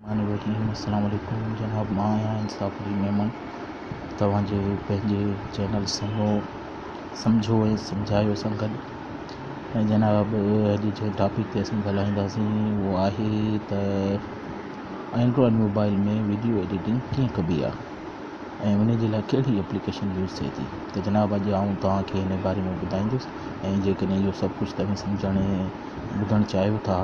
مهمان ڪريم السلام عليڪم جناب مان آهيان انصاف جي ميمڻ توهان جي پنهنجي چينل سنگهو سمجهو ۽ سمجهايو سان گڏ ۽ جناب اڄ جنهن ٽاپڪ تي اسين ڳالهائينداسين اهو آهي ته اينڊرائڊ موبائل ۾ وڊيو ايڊيٽنگ ڪيئن ڪبي آهي ۽ ان جي لاء ڪهڙي ايپليڪيشن يوز ٿئي ٿي ته جناب اڄ آئون توهان کي ان باري ۾ ٻڌائيندس ۽ جيڪڏهن اهو سڀ ڪجهه توهين سمجهڻ ۽ ٻڌڻ چاهيو ٿا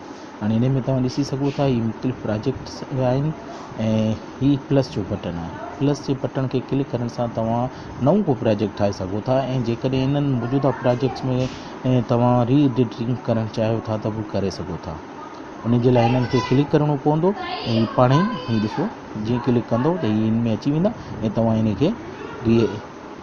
هاڻي انهي ۾ توهان ڏسي سگهو ٿا هي مختلف پراجيڪٽس آهن ۽ هي پلس جو بٽڻ آهي پلس جي بٽڻ کي ڪلڪ ڪرڻ سان توهان نئون ڪو پراجيڪٽ ٺاهي سگهو ٿا ۽ جيڪڏهن انهن موجوده پراجيڪٽس ۾ توهان ري ايڊيٽنگ ڪرڻ چاهيو ٿا ته به ڪري سگهو ٿا ان جي لاء هنن کي ڪلڪ ڪرڻو پوندو ۽ هي پاڻ ئي هي ڏسو جيئن ڪلڪ ڪندو ته هي هن ۾ اچي ويندا ۽ توهان هن کي ري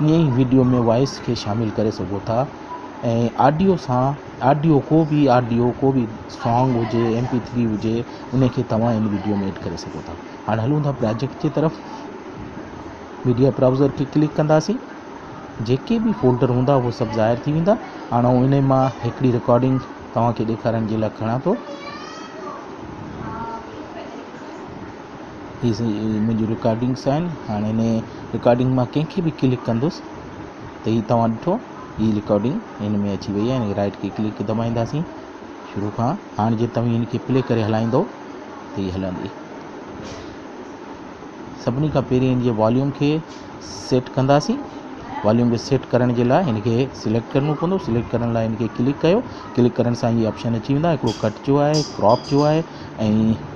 ائين ئي وڊيو ۾ وائس کي شامل ڪري سگهو ٿا ۽ آڊيو سان آڊيو ڪو به آڊيو ڪو به سانگ هجي ايم پي ٿري هجي ان کي توهان ان وڊيو ۾ ايڊ ڪري سگهو ٿا هاڻ هلون ٿا پراجيڪٽ جي طرف ميڊيا براوزر کي ڪلڪ ڪنداسين جيڪي به فولڊر هوندا هو سڀ ظاهر ٿي ويندا هاڻ آئون ان مان هڪڙي رڪارڊنگ توهان کي ڏيکارڻ جي لاء کڻان ٿو ھي منھنجي رڪارڊنگس آھن ھاڻي ھن رڪارڊنگ مان ڪنھن کي به ڪلڪ ڪندس ته ھي توھان ڏٺو ھي رڪارڊنگ ھن ۾ اچي وئي آھي ھن رائٽ کي ڪلڪ دٻائينداسين شروع کان ھاڻ جي توھين ھن کي پلي ڪري ھلائيندو ته ھي ھلندي سڀني کان پھرين ھن جي واليوم کي سيٽ ڪنداسين واليوم کي سيٽ ڪرڻ جي لاء ھن کي سليڪٽ ڪرڻو پوندو سليڪٽ ڪرڻ لاء ھن کي ڪلڪ ڪيو ڪلڪ ڪرڻ سان ھي آپشن اچي ويندا ھڪڙو ڪٽ جو آھي ڪراپ جو آھي ۽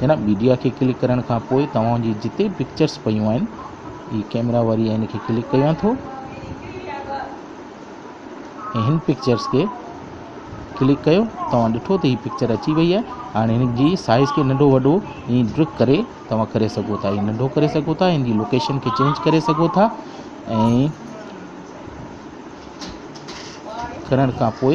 هن ميڊيا کي ڪلڪ ڪرڻ کان پوء توهان جي جتي به پڪچرس پيون آهن هي ڪيمرا واري هن کي ڪلڪ ڪيان ٿو ۽ هن پڪچرس کي ڪلڪ ڪيو توهان ڏٺو ته هي پڪچر اچي وئي آهي هاڻي هن جي سائز کي ننڍو وڏو ائين ڊرڪ ڪري توهان ڪري سگهو ٿا ائين ننڍو ڪري سگهو ٿا هن جي لوڪيشن کي چينج ڪري سگهو ٿا ۽ ڪرڻ کان پوء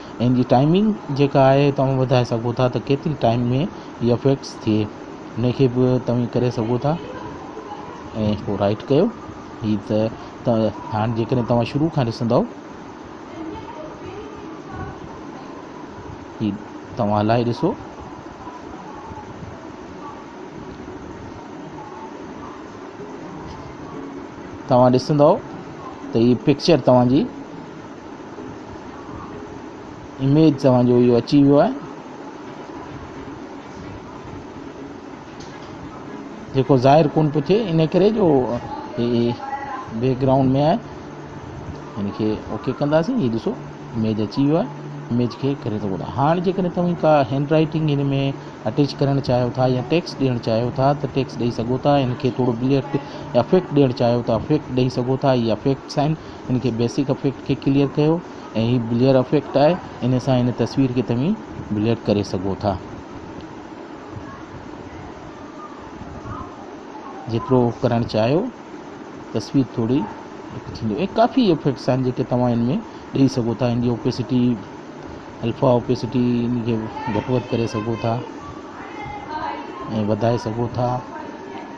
ان جي ٽائمنگ جيڪا آهي تمام ٻڌائي سگهو ٿا ته ڪيتري ٽائم ۾ ائي فيڪس ٿئي ان کي به توهين ڪري سگهو ٿا ۽ پوء رائٽ ڪيو ائي ته هاڻ جي ڪڏهن توهان شروع کان ڏسندو ائي توهان هلائي ڏسو توهان ڏسندو ته هي پڪچر توهان جي اميد توهان جو اهو اچي ويو آهي جيڪو ظاهر ڪون پيو ٿئي ان ڪري جو بيڪ گرائونڊ ۾ آهي ان کي اوڪي ڪنداسين هي ڏسو ايميج اچي ويو آهي ايميج کي ڪري ٿو ٻڌايو هاڻي جيڪڏهن توهين ڪا هينڊ رائٽنگ هن ۾ اٽيچ ڪرڻ چاهيو ٿا يا ٽيڪس ڏيڻ چاهيو ٿا ته ٽيڪس ڏيئي سگهو ٿا هن کي ٿورو بليڪ افيڪٽ ڏيڻ چاهيو ٿا افيڪٽ ڏيئي سگهو ٿا هي افيڪٽس آهن ان کي بيسڪ افيڪٽ کي ڪليئر ڪيو ۽ هي بليئر افيڪٽ آهي ان سان هن تصوير کي توهين بليئر ڪري سگهو ٿا جيترو ڪرڻ چاهيو تصوير ٿوري ٿيندو ۽ ڪافي افيڪٽس آهن جيڪي توهان ان ۾ ڏيئي سگهو ٿا ان جي اوپيسٽي الفا اوپيسٽي ان کي گهٽ وڌ ڪري سگهو ٿا ۽ وڌائي سگهو ٿا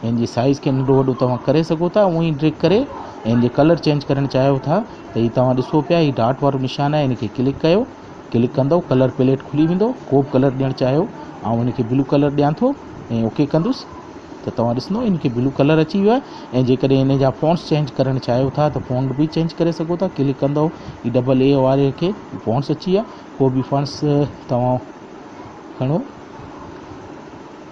هن جي سائيز کي ننڍو وڏو توهان ڪري سگهو ٿا اونهي ڊريگ ڪري ۽ هن جي ڪلر چينج ڪرڻ چاهيو ٿا ته هي توهان ڏسو پيا هي ڊاٽ وارو نشان آهي هن کي ڪلڪ ڪيو ڪلڪ ڪندو ڪلر پيليٽ کلي ويندو ڪوبه ڪلر ڏيڻ چاهيو آئون هن کي بلو ڪلر ڏيان ٿو ۽ اوڪي ڪندس ته توهان ڏسندو هن کي بلو ڪلر اچي ويو آهي ۽ جيڪڏهن هن جا فونٽس چينج ڪرڻ چاهيو ٿا ته فونٽ به چينج ڪري سگهو ٿا ڪلڪ ڪندو هي ڊبل اي واري کي فونٽس اچي ويا ڪو به فونٽس توهان کڻو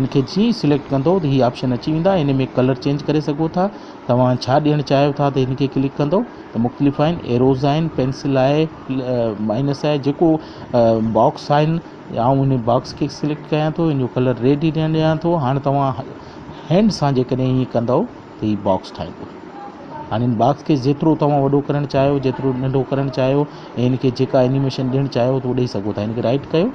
ان کي جيئن ئي سليڪٽ ڪندو ته هي آپشن اچي ويندا هن ۾ ڪلر چينج ڪري سگهو ٿا توهان ڇا ڏيڻ چاهيو ٿا ته هن کي ڪلڪ ڪندو ته مختلف آهن ايروز آهن پينسل آهي مائنس آهي جيڪو باڪس آهن يا آئون ان باڪس کي سليڪٽ ڪيان ٿو ان جو ڪلر ريڊ ئي ڏيڻ ڏيان ٿو هاڻي توهان هينڊ سان جيڪڏهن ائين ڪندو ته هي باڪس ٺاهيندو هاڻي ان باڪس کي جيترو توهان وڏو ڪرڻ چاهيو جيترو ننڍو ڪرڻ چاهيو ۽ ان کي جيڪا انيميشن ڏيڻ چاهيو ته ڏيئي سگهو ٿا ان کي رائٽ ڪيو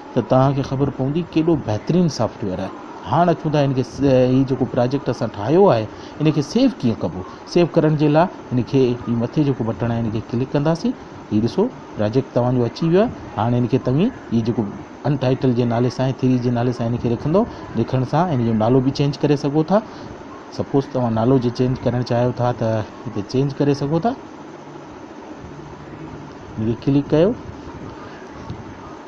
ته توهان کي خبر پوندي ڪيڏو بهترين سافٽ ويئر آهي هاڻ اچون ٿا هن کي هي جيڪو پراجيڪٽ اسان ٺاهيو آهي ان کي سيو ڪيئن ڪبو سيو ڪرڻ جي لاء هن کي هي مٿي جيڪو بٽڻ آهي هن کي ڪلڪ ڪنداسين هي ڏسو پراجيڪٽ توهان جو اچي ويو آهي هاڻ هن کي توهين هي جيڪو ان ٽائيٽل جي نالي سان ٿري جي نالي سان هن کي رکندو رکڻ سان هن جو نالو به چينج ڪري سگهو ٿا سپوز توهان نالو جي چينج ڪرڻ چاهيو ٿا ته هتي چينج ڪري سگهو ٿا هن کي ڪلڪ ڪيو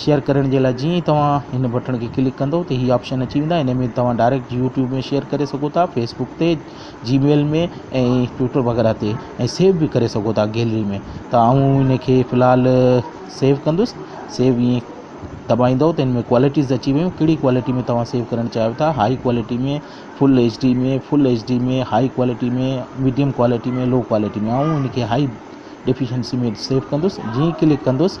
شيئر ڪرڻ جي لاء جيئن ئي توهان هن بٽڻ کي ڪلڪ ڪندو ته هي آپشن اچي ويندا هن ۾ توهان ڊائريڪٽ يوٽيوب ۾ شيئر ڪري سگهو ٿا فيسبڪ تي جي ميل ۾ ۽ ٽوئٽر وغيره تي ۽ سيو بي ڪري سگهو ٿا گيلري ۾ ته آئون هن کي في الحال سيو ڪندس سيو ائين دٻائيندو ته هن ۾ ڪوالٽيز اچي ويون ڪهڙي ڪوالٽي ۾ توهان سيو ڪرڻ چاهيو ٿا high quality ۾ full H D ۾ full H D ۾ high quality ۾ medium quality ۾ low quality ۾ آئون هن کي هائي ڊيفيشنسي ۾ سيو ڪندس جيئن ڪلڪ ڪندس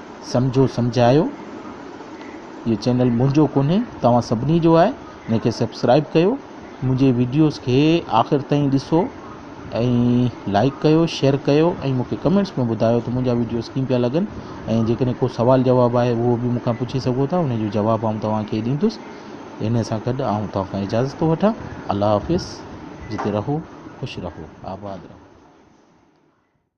سمجهو سمجهايو اهو چينل منهنجو ڪونهي توهان سڀني جو آهي ان کي سبسڪرائب ڪيو منهنجي وڊيوز کي آخر تائين ڏسو ۽ لائڪ ڪيو شيئر ڪيو ۽ مونکي ڪمينٽس ۾ ٻڌايو ته منهنجا وڊيوز ڪيئن پيا لڳن ۽ جيڪڏهن ڪو سوال جواب آهي اهو به مونکان پڇي سگهو ٿا ان جو جواب آئون توهانکي ڏيندس ان سان گڏ آئون توهان کان اجازت ٿو وٺان الله حافظ جتي رهو خوش رهو آباد رهو